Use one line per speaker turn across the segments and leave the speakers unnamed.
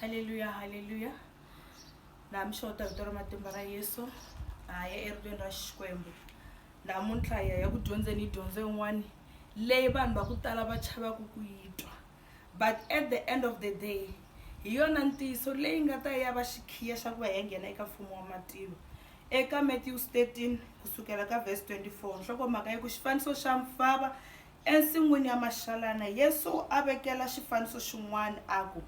haleluya haleluya laha mixota vito ra matimba ra yesu ha ya eribyeni ra xikwembu namuntlha hi ya ya ku dyondzeni yi dyondzo yin'wani leyi vanhu va ku tala va chavaku ku yi twa but at the end of the day hi yona ntiyiso leyi nga ta ya va xikhiya xa ku va hi nghena eka mfumo wa matilo eka matthews 13 kusukela ka vhesi 24 nhlokomhaka yi ku xifaniso xa mfava Ensin'wini ya maxalana, Yesu a vekela xifaniso xin'wana a ku,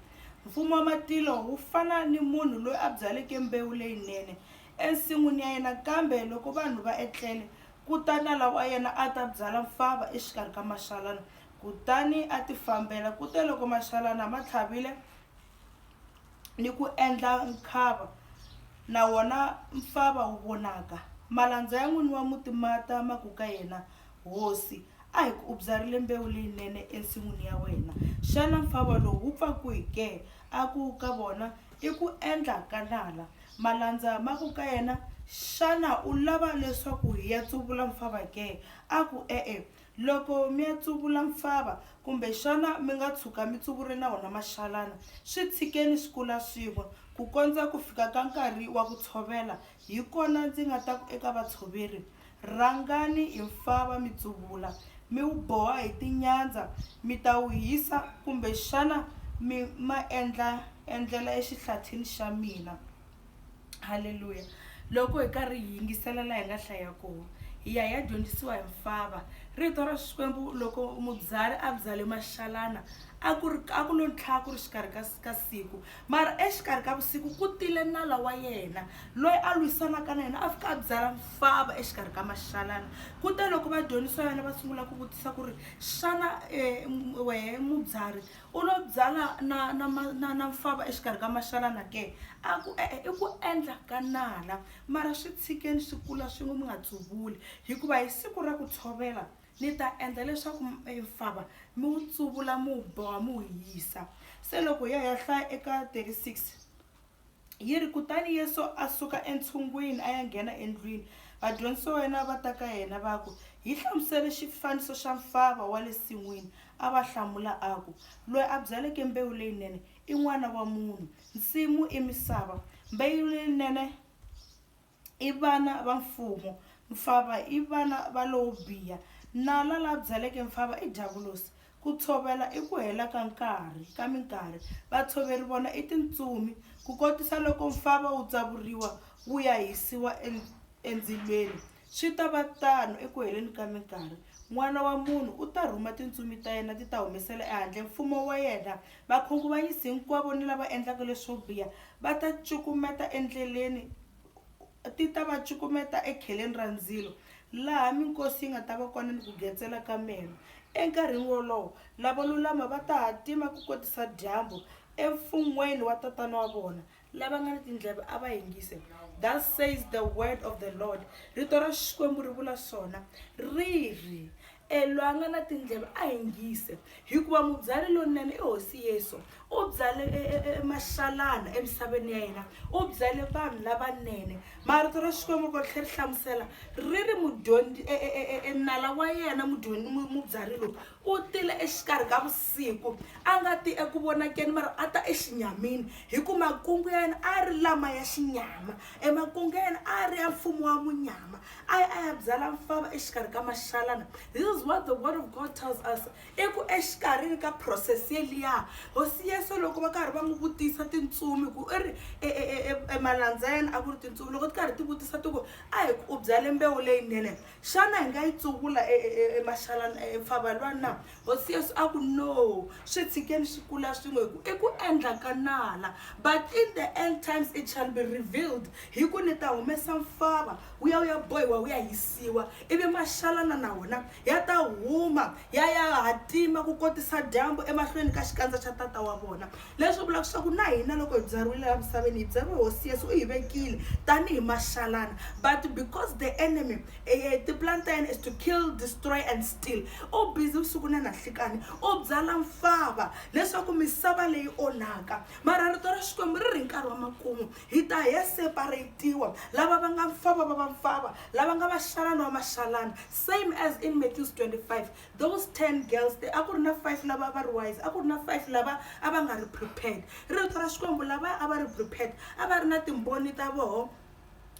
Mfumo wa matilo wu fana ni munhu loyi a byaleke mbewu leyinene ensin'wini ya yena. Kambe loko vanhu va etlele, ku ta nala wa yena a ta byala mfava exikarhi ka maxalana, kutani a tifambela. Kuteloko maxalana ma tlhavile, ni ku endla nkhava, na wona mfava wu vonaka. Malandza ya n'wini wa muti ma ta ma ku ka yena, Hosi, a hi ku u byarile mbewu leyinene ensin'wini ya wena. Xana mfava lowu wu pfa kwihi ke? A ku ka vona, I ku endla ka nala. Malandza ma ku ka yena, Xana u lava leswaku hi ya tsuvula mfava ke? A ku, E-e, Loko mi ya tsuvula mfava, kumbexana mi nga tshuka mi tsuvure na wona maxalana, swi tshikeni swi kula swin'we, ku kondza ku fika ka nkarhi wa ku tshovela, hi kona ndzi nga ta ku eka vatshoveri, Rhangani hi mfava mi tsuvula, mi wu boha hi tinyandza, mi ta wu hisa, kumbexana mi ma endla endlela exihlathini xa mina. halleluya loko hi karhi hi yingisela laha hi nga hlaya kona hi ya hi ya dyondzisiwa hi mfava rito ra xikwembu loko mubyari a byale maxalana a ku ri a ku lo ntlhaka ku ri xikarhi ka, ka siku mara exikarhi ka vusiku ku tile nala wa yena loyi a lwisanaka na yena a fika a byala mfava exikarhi ka maxalana kute loko vadyondzisiwa yana va sungula ku vutisa ku ri xana um wehe mubyari U lo byala na, na, na, na mfava exikarhi ka maxalana ke? A ku, E-e, i ku endla ka nala. Mara swi tshikeni swi kula swin'we, mi nga tsuvuli, hikuva hi siku ra ku tshovela ni ta endla leswaku mfava mi wu tsuvula, mi wu boha, mi wu hisa. Se loko hi ya hi ya hlaya eka 36. Yi ri, Kutani Yesu a suka entshungwini a ya nghena endlwini. Vadyondzisiwa va yena va ta ka yena va ku, Hi hlamusele xifaniso xa mfava wa le sin'wini. A va hlamula a ku, Loyi a byaleke mbewu leyinene i N'wana wa munhu. Nsimu i misava. Mbewu leyinene. i vana va mfumo. Mfava i vana va lowo biha. Nala la byaleke mfava i Diyavulosi. Ku tshovela i ku hela ka nkarhi, ka minkarhi. Vatshoveri vona i tintsumi. Ku kotisa loko mfava wu tsavuriwa wu ya hisiwa endzilweni, swi ta va tano eku heleni ka minkarhi, N'wana wa munhu u ta rhuma tintsumi ta yena ti ta humesela ehandle mfumo wa yena Vakhunguvanyisi hinkwavo ni lava endlaka leswo biha va ta cukumeta endleleni, ti ta va cukumeta ekheleni ra ndzilo, laha minkosi yi nga ta va kona ni ku getsela ka meno. Enkarhini wolowo, lavo lulama va ta hatima ku kotisa dyambu emfun'weni wa Tatana wa vona, lava nga ni tindleve a va yingise thus says the word of the lord rito ra xikwembu ri vula swona ri ri elwa nga na tindleve a yingise hikuva mubyali lonene i hosi yesu u byale e, e, e, maxalana emisaveni ya yena u byale vanhu lavanene marito ra xikwembu ko tlhe ri hlamusela ri ri mudyondzi enala wa yena mubyali lowu U tile exikarhi ka vusiku, a nga ti eku vonakeni mara a ta exinyamini, hi ku makungu ya yena a ri lama ya xinyama, e makungu ya yena a ri ya mfumo wa munyama, a ya a ya byala mfava exikarhi ka maxalana. This is what the word of God tells us, i ku exikarhini ka process yeliya, hosi Yesu loko va karhi va n'wi vutisa tintsumi, ku i ri e, e, e, e, e malandza ya yena a ku ri tintsumi, loko ti karhi ti vutisa ti ku, a hi ku u byale mbewu leyinene, Xana hi nga yi tsuvula emaxalana e, e, e, mpfava lwa na? Hosi Yesu a ku, No, swi tshikeni swi kula swin'we, hi ku i ku endla ka nala. But in the end times it shall be revealed, hi ku ni ta humesa mpfava wu ya wu ya bohiwa wu ya hisiwa, ivi maxalana na wona ya ta huma ya ya hatima ku kotisa dyambu emahlweni ka xikandza xa Tata wa vona. Leswi vulaka leswaku na hina loko hi byariwile laha misaveni hi byariwe hosi yesu u hi vekile tanihi maxalana but because the enemy eh, tiplan ta yena is to kill destroy and steal u busy vusiku na nanhlikani u byala mfava leswaku misava leyi onhaka mara rito ra xikwembu ri ri nkarhi wa makumu hi ta he separatiwa lava va nga mfava va va mfava lava nga vaxalana wa maxalana same as in matthews 25 Those 10 girls there, a ku ri na 5 lava va ri wise, a ku ri na 5 lava a va nga ri prepared. Rito ra Xikwembu lava a va ri prepared, a va ri na timboni ta voho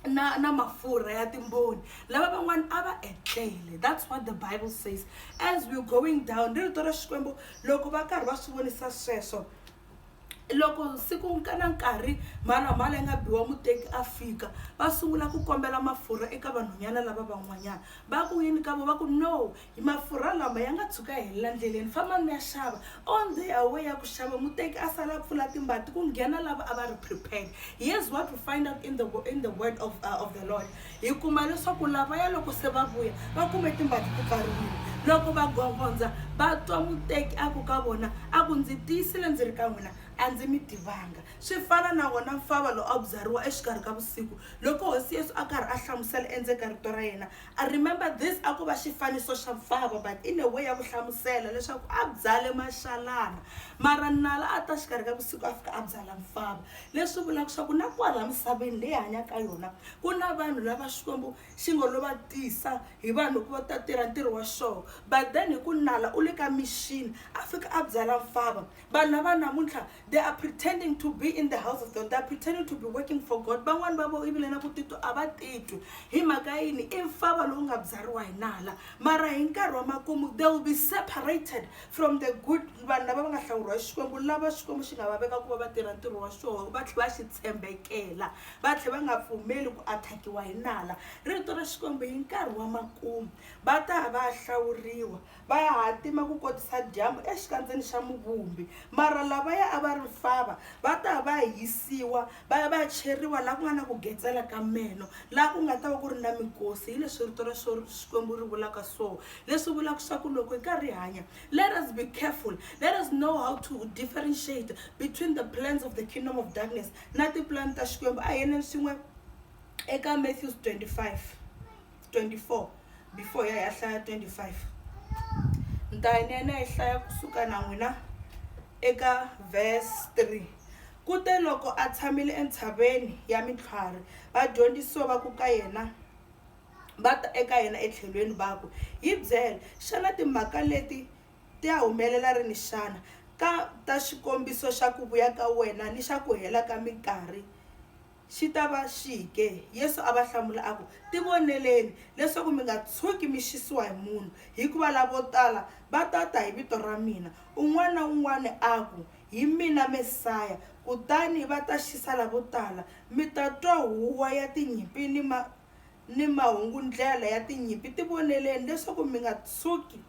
na na mafurha ya timboni lava van'wana a va etlele that's what the bible says as we're going down ri rito ra xikwembu loko va karhi va swi vonisa sweswo Loko siku na nkarhi mhalamhala yi nga biwa muteki a fika va sungula ku kombela mafurha eka vanhwanyana lava van'wanyana va ku yini ka vo va ku no mafurha lama ya nga tshuka ya helela ndleleni fambani mi ya xava on the away ya ku xava muteki a sala a pfula timbati ku nghena lava a va ri prepared here's what we find out in the in the word of, uh, of the lord Hi kuma leswaku lavaya loko se va vuya va kume timbangi ti pfariwile. Loko va gongonza, va twa muteki a ku ka vona, A ku ndzi tiyisile ndzi ri ka n'wina, a ndzi mi tivanga. Swi fana na wona mfava lowu a wu byariwa exikarhi ka vusiku. Loko Hosi Yesu a karhi a hlamusela endzeni ka Rito ra yena, a remember this a ku va xifaniso xa mfava but in a way ya ku hlamusela leswaku a byale maxalana. Mara nala a ta xikarhi ka vusiku a fika a byala mfava. Leswi vulaka swa ku na kwala misaveni leyi hi hanyaka ka yona, ku na vanhu lava xikwembu xi ngo lo va tisa hi vanhu ku va ta tirha ntirho wa xoho but then hi ku nala u le ka mixini a fika a byala mfava vanhu lava namuntlha they are pretending to be in the house of god they are pretending to be working for god van'wani va vo ivile na ku titwa a va titwi hi mhaka yini i mfava lowu nga byariwa hi nala mara hi nkarhi wa makumu they will be separated from the good vanhu lava va nga hlawuriwa hi xikwembu lava xikwembu xi nga va veka ku va va tirha ntirho wa xoho va tlhe va xi tshembekela va tlhe va nga pfumeli ku athakiwa hi nala rito ra xikwembu hi nkarhi wa makumu va ta va ya hlawuriwa va ya hatima ku kotisa dyambu exikandzeni xa muvumbi mara lavaya a va ri fava va ta va ya hisiwa va ya va ya cheriwa laha ku nga na ku getsela ka meno laha ku nga ta va ku ri na mikosi hi leswi rito ra xikwembu ri vulaka so leswi vulaka swa ku loko hi karhi hi hanya let us be careful let us know how to differentiate between the plans of the kingdom of darkness na tipulani ta Xikwembu. A hi yeneni swin'we eka Matthews 25, 24 before ya hi ya hlaya 25. Ni ta ni ya ni ya yi hlaya kusuka na n'wina eka verse 3. Kute loko a tshamile entshaveni ya mintlhwari, vadyondzisiwa va ku ka yena va ta eka yena etlhelweni va ku, Hi byele, xana timhaka leti Ti ya humelela rini xana? Ka ta xikombiso xa ku vuya ka wena ni xa ku hela ka minkarhi xi ta va xihi ke? Yesu a va hlamula a ku, Tivoneleni, leswaku mi nga tshuki mi xisiwa hi munhu, hikuva lavo tala va ta ta hi vito ra mina, un'wana na un'wana a ku, Hi mina Mesaya, kutani va ta xisa lavo tala. Mi ta twa huwa ya tinyimpi ni ni mahungu-ndlela ya tinyimpi, tivoneleni leswaku mi nga tshuki,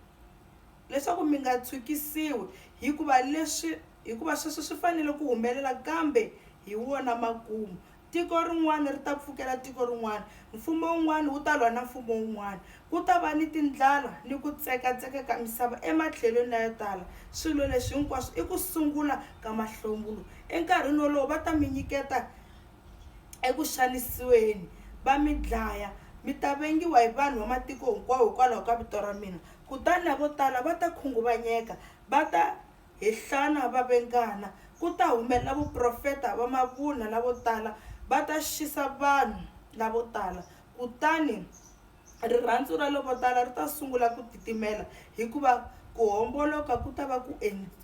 leswaku mi nga tshukisiwi, hikuva leswi, hikuva sweswo swi fanele ku humelela, kambe hi wona makumu. Tiko rin'wana ri ta pfukela tiko rin'wana, mfumo wun'wana wu ta lwa na mfumo wun'wana. Ku ta va ni tindlala ni ku tsekatseka ka misava ematlhelweni layo tala. Swilo leswi hinkwaswo i ku sungula ka mahlongulo. Enkarhini wolowo va ta mi nyiketa eku xanisiweni, va mi dlaya. Mi ta vengiwa hi vanhu va matiko hinkwawo hikwalaho ka vito ra mina. Kutani lavo tala va ta khunguvanyeka, va ta hehlana va vengana. Ku ta humelela vaprofeta va mavunwa lavo tala, va ta xisa vanhu lavo tala. Kutani Rirhandzu ra lovotala ri ta sungula ku titimela hikuva ku homboloka ku ta va ku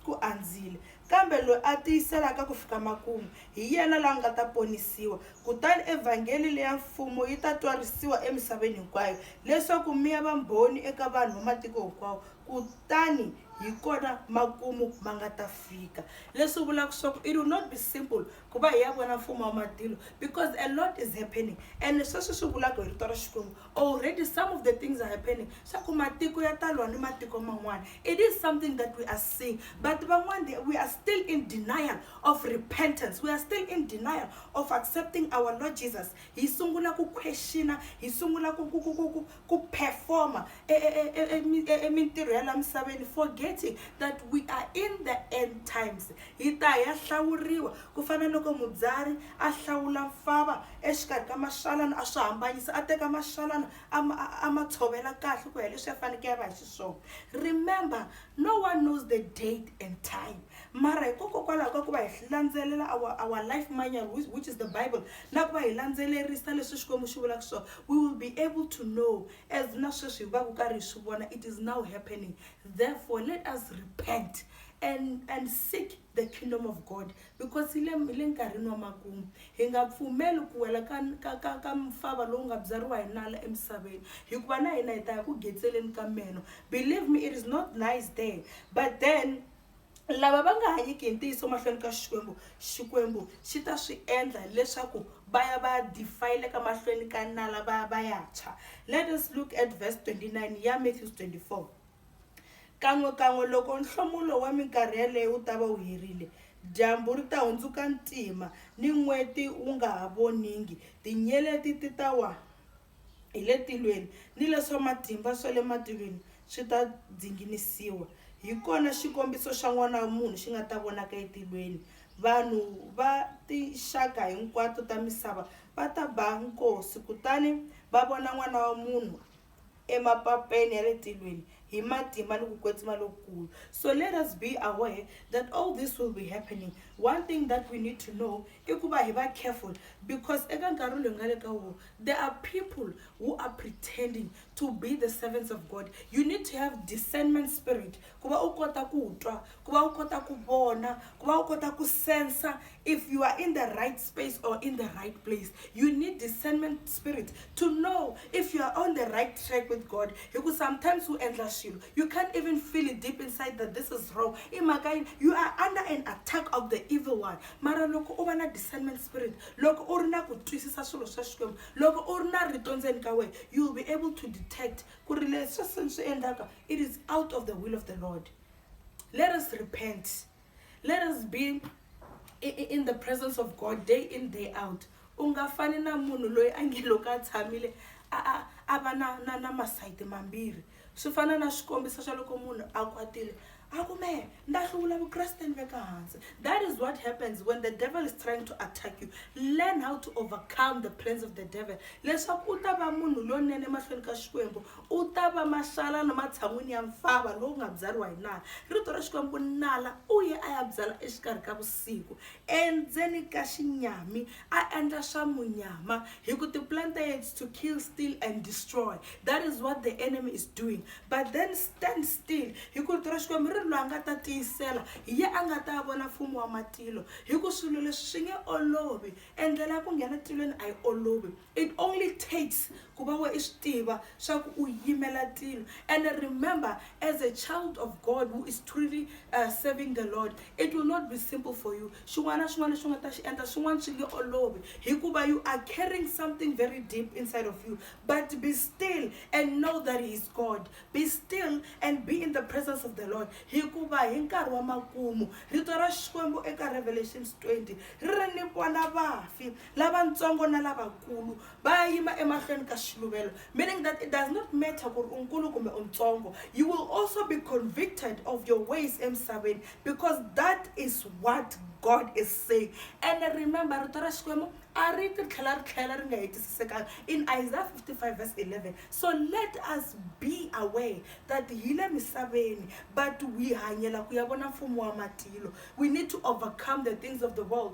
ku andzile. Kambe loyi a tiyiselaka ku fika makumu, hi yena la nga ta ponisiwa. Kutani evhangeli leya Mfumo yi ta twarisiwa emisaveni hinkwayo, leswaku mi ya vambhoni eka vanhu va matiko hinkwawo, kutani hi kona makumu ma nga ta fika. Leswi vulaka swa ku it will not be simple ku va hi ya vona mfumo wa matilo because a lot is happening and sweswi swi vulaka hi rito ra xikwembu already some of the things are happening swa ku matiko ya talwa ni matiko man'wana it is something that we are seeing but van'wana we are still in denial of repentance we are still in denial of accepting our lord jesus hi sungula ku questiona hi sungula ku ku ku ku ku ku performa emintirho ya la misaveni forgetting that we are in the end times hi ta ya hlawuriwa ku fana loko mubyari a hlawula mfava exikarhi ka maxalana a swi hambanyisa a teka maxalana a ma tshovela kahle ku ya leswi ya faneke ya va hi xiswona remember No one knows the date and time mara hikokokwalaho ka ku va hi landzelela our, our life manual which, which is the bible na ku va hi landzelerisa leswi xikwembu xi vulaka swona we will be able to know as na sweswi hi va ku karhi hi swi vona it is now happening therefore let us repent and, and seek the kingdom of god Because hi le, hi le nkarhini wa makumu. Hi nga pfumeli ku wela ka, ka, ka, ka mfava lowu nga byariwa hi nala emisaveni. Hikuva na hina hi ta ya ku getseleni ka meno. Believe me, it is not nice there. But then, lava va nga hanyiki hi ntiyiso mahlweni ka Xikwembu, Xikwembu xi ta swi endla leswaku va ya va ya defile-ka mahlweni ka nala va ya va ya tshwa. Let us look at verse 29 ya Matthews 24. Kan'we-kan'we loko nhlomulo wa minkarhi yaleyo wu ta va wu herile, dyambu ri ta hundzuka ntima ni n'weti wu nga ha voningi, tinyeleti ti ta wa hi le tilweni ni leswa matimba swa le matilweni swi ta dzinginisiwa. Hi kona xikombiso xa N'wana wa munhu xi nga ta vonaka etilweni. Vanhu va tinxaka hinkwato ta misava va ta ba nkosi kutani va vona N'wana wa munhu. emapapeni ya le tilweni hi matimba ni ku kwetsima lokukulu so let us be aware that all this will be happening one thing that we need to know i ku va hi va careful because eka nkarhi loyi nga le ka wo there are people who are pretending to be the servants of god you need to have discernment spirit ku va u kota ku twa ku va u kota ku vona ku va u kota ku sensa if you are in the right space or in the right place you need discernment spirit to know if you are on the right track with god hi ku sometimes u endla swilo you can't even feel it deep inside that this is wrong i mhaka yini you are under an attack of the evil one mara loko u va na discernment spirit loko u ri na ku twisisa swilo swa xikwembu loko u ri na rito ndzeni ka wena you will be able to detect ku ri leswi swi ni swi endlaka it is out of the will of the lord let us repent let us be in the presence of god day in day out u nga fani na munhu loyi a nge loko a tshamile a va na na na masayiti mambirhi swi fana na xikombiso xa loko munhu a kwatile a ku mehe nda hluvula vukreste ni veka hansi that is what happens when the devil is trying to attack you learn how to overcome the plans of the devil leswaku u ta va munhu lonene emahlweni ka xikwembu u ta va maxalana matshan'wini ya mfava lowu nga byariwa hi nala rito ra xikwembu nala u ye a ya byala exikarhi ka vusiku endzeni ka xinyami a endla swa munyama hi ku ti-plan ta yena to kill steal and destroy that is what the enemy is doing but then stand still hi ku rito ra xikwembu ri ri loyi a nga ta tiyisela hi ye a nga ta vona mfumo wa matilo hi ku swilo leswi swi nge olovi endlela ya ku nghena tilweni a yi olovi it only takes ku va we i swi tiva swa ku u yimela tilo and remember as a child of god who is truly uh, serving the lord it will not be simple for you Xin'wana na xin'wana lexi u nga ta xi endla swin'wana swi nge olovi hikuva you are carrying something very deep inside of you but be still and know that he is god be still and be in the presence of the lord hikuva hi nkarhi wa makumu rito ra xikwembu eka revelations 20 ri ri ni vona vafi lavatsongo na lavakulu va ya yima emahlweni ka xiluvelo meaning that it does not matter ku ri u nkulu kumbe u ntsongo you will also be convicted of your ways emisaveni because that is what god is saying and remember rito ra xikwembu a ri ti tlhela ri tlhela ri nga hetisisekanga in isaiah 55 verse 11 so let us be aware that hi le misaveni but we hanyela ku ya vona mfumo wa matilo we need to overcome the things of the world